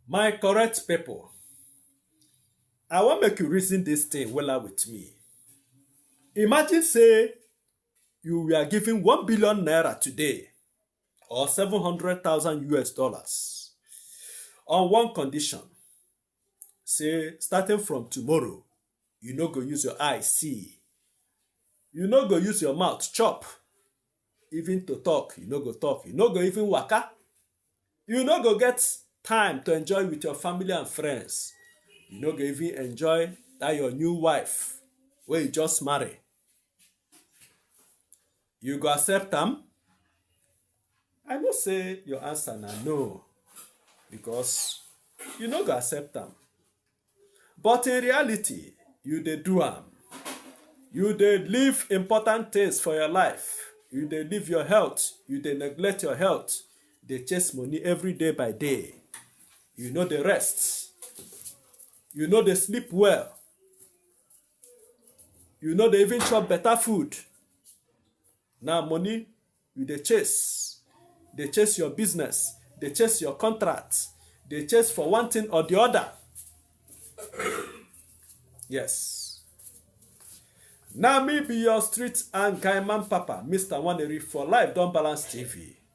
My correct people, I wan make you reason this thing wella with me. Imagine say you were given one billion naira today or seven hundred thousand US dollars on one condition. say starting from tomorrow you no go use your eye see you no go use your mouth chop even to talk you no go talk you no go even waka you no go get time to enjoy with your family and friends you no go even enjoy that your new wife wey you just marry You go accept am? I know say your answer na no because you no go accept am. But in reality, you dey do am. You dey leave important things for your life. You dey leave your health. You dey neglect your health. Dey chase money every day by day. You no dey rest. You no dey sleep well. you no dey even chop better food na money you dey chase dey chase your business dey chase your contract dey chase for one thing or the other yes na me be your street and guy man papa mr waneri for life don balance tv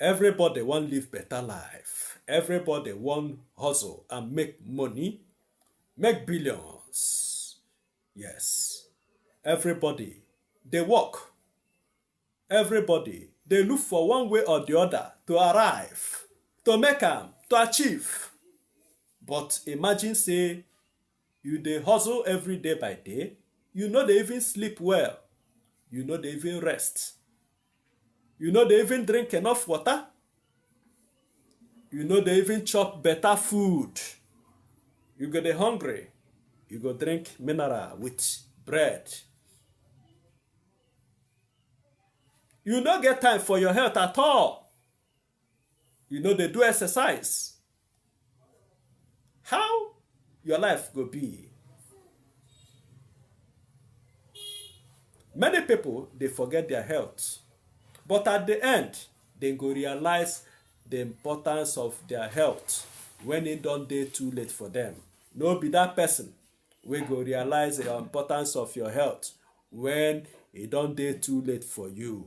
everybody wan live better life everybody wan hustle and make money make billions yes everybody dey work everybody dey look for one way or the other to arrive to make am to achieve but imagine say You dey hustle every day by day, you no dey even sleep well, you no dey even rest, you no dey even drink enough water, you no dey even chop better food. You go dey hungry, you go drink mineral with bread. You no get time for your health at all. you no dey do exercise how your life go be many people dey forget their health but at the end dem go realize the importance of their health when e don dey too late for them no be that person wey go realize the importance of your health when e don dey too late for you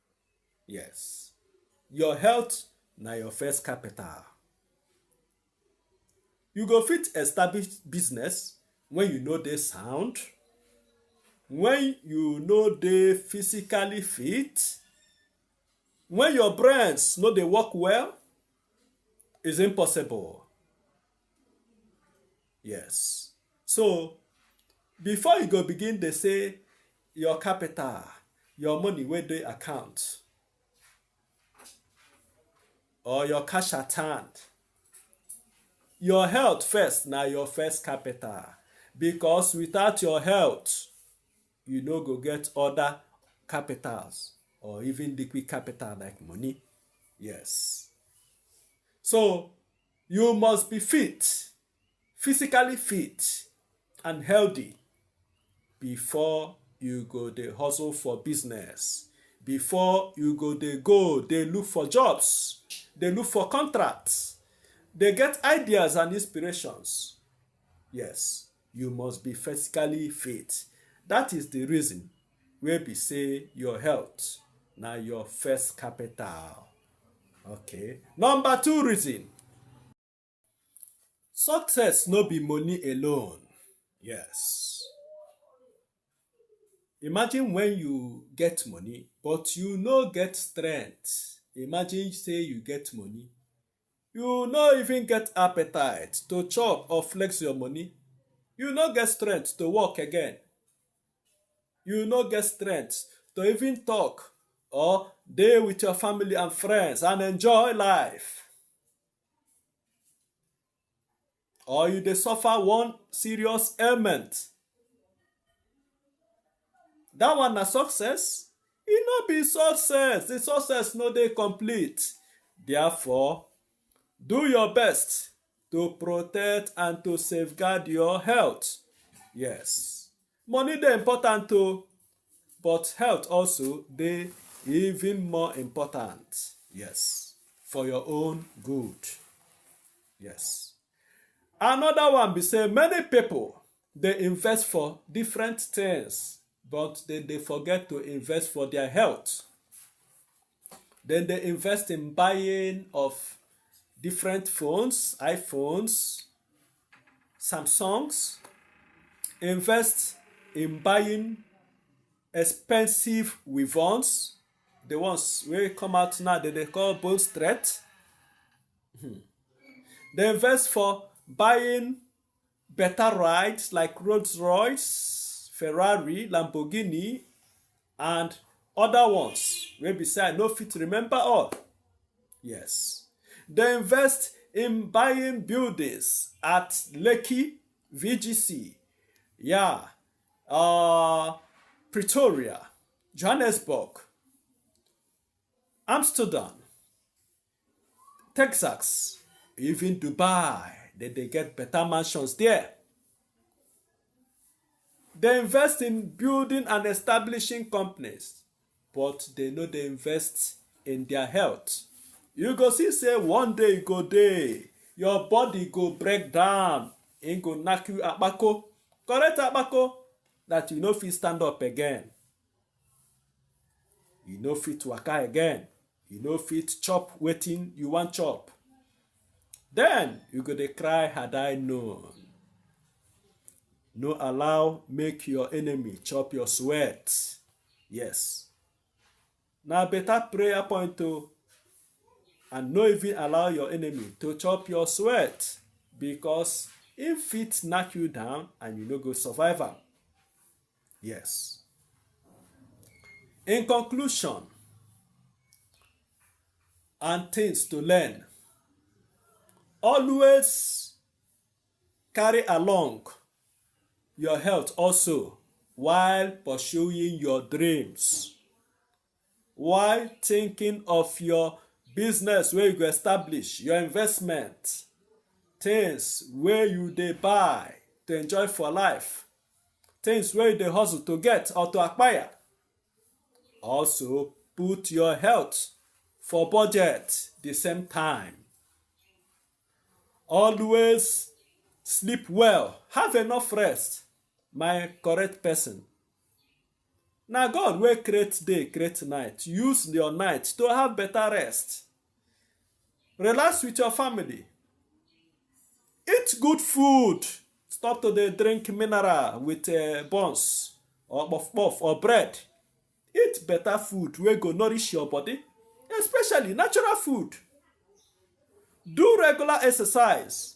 Yes. Your health na your first capital. You go fit establish business when you no dey sound, when you no dey physically fit, when your brains no dey work well, is impossible. Yes. So, before you go begin dey say your capital, your money wey dey account, or your cash at hand. Your health first na your first capital because without your health, you no go get other capitals or even liquid capital like money. Yes. So you must be fit. physically fit and healthy before you go dey hustle for business before you go dey go dey look for jobs dey look for contracts dey get ideas and inspirations yes you must be physically fit that is the reason wey be say your health na your first capital okay number two reason Success no be money alone. Yes. Imagine when you get money but you no get strength. Imagine say you get money. You no even get appetite to chop or flex your money. You no get strength to work again. You no get strength to even talk or dey with your family and friends and enjoy life. or you dey suffer one serious ailment that one na success e no be success the success no dey complete therefore do your best to protect and to safeguard your health yes Money dey important o, but health also dey even more important. Yes, for your own good. Yes. Another one be say many people dey invest for different things, but they dey forget to invest for their health. Dem dey invest in buying of different phones, iPhones, some songs, invest in buying expensive weapons, the ones wey come out now dem dey call bone straight. Hmm. They invest for buying better rides like Rolls Royce, Ferrari, Lamborghini, and other ones wey be say i no fit remember all yes dey invest in buying buildings at lekki vgc yeah uh, pretoria johannesburg amsterdam Texas, even Dubai, they, they get better mansions there. They invest in building and establishing companies, but they know they invest in their health. You go see say one day go day, your body go break down, and go knock you abako, correct abako, that you no fit stand up again. You no fit waka again. You no fit chop wetin you wan chop. Then you go dey cry had I known. No allow make your enemy chop your sweat. Yes. Na better prayer point o. And no even allow your enemy to chop your sweat because im fit knock you down and you no go survive am. Yes. In conclusion, and things to learn, always carry along your health also while pursuing your dreams while thinking of your business wey you go establish your investment things wey you dey buy to enjoy for life things wey you dey hustle to get or to acquire. Also put your health for budget the same time. Always sleep well, have enough rest, my correct person. Na God wey create day, create night, use your night to have better rest. Relax with your family. Eat good food. Stop to dey drink mineral with uh, buns or puff puff or bread. Eat better food wey go nourish your body, especially natural food. Do regular exercise.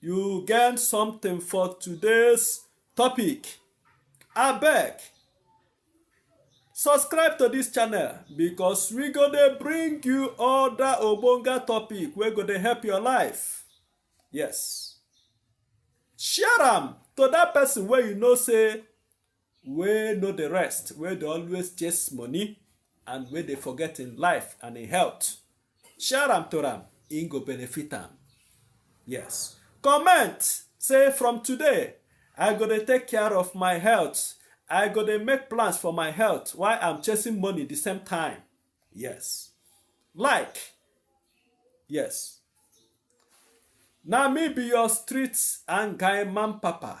you get something for today's topic abeg subscribe to this channel because we go dey bring you other ogbonge topic wey go dey help your life yes share am to that person wey you know say wey no dey rest, wey dey always chase money and wey dey forget im life and im health. Share am to am, im go benefit am. Yes. Comment say from today, I go dey take care of my health. I go dey make plans for my health while I'm chasing money the same time. Yes. Like. Yes. Na me be your street and guy man papa.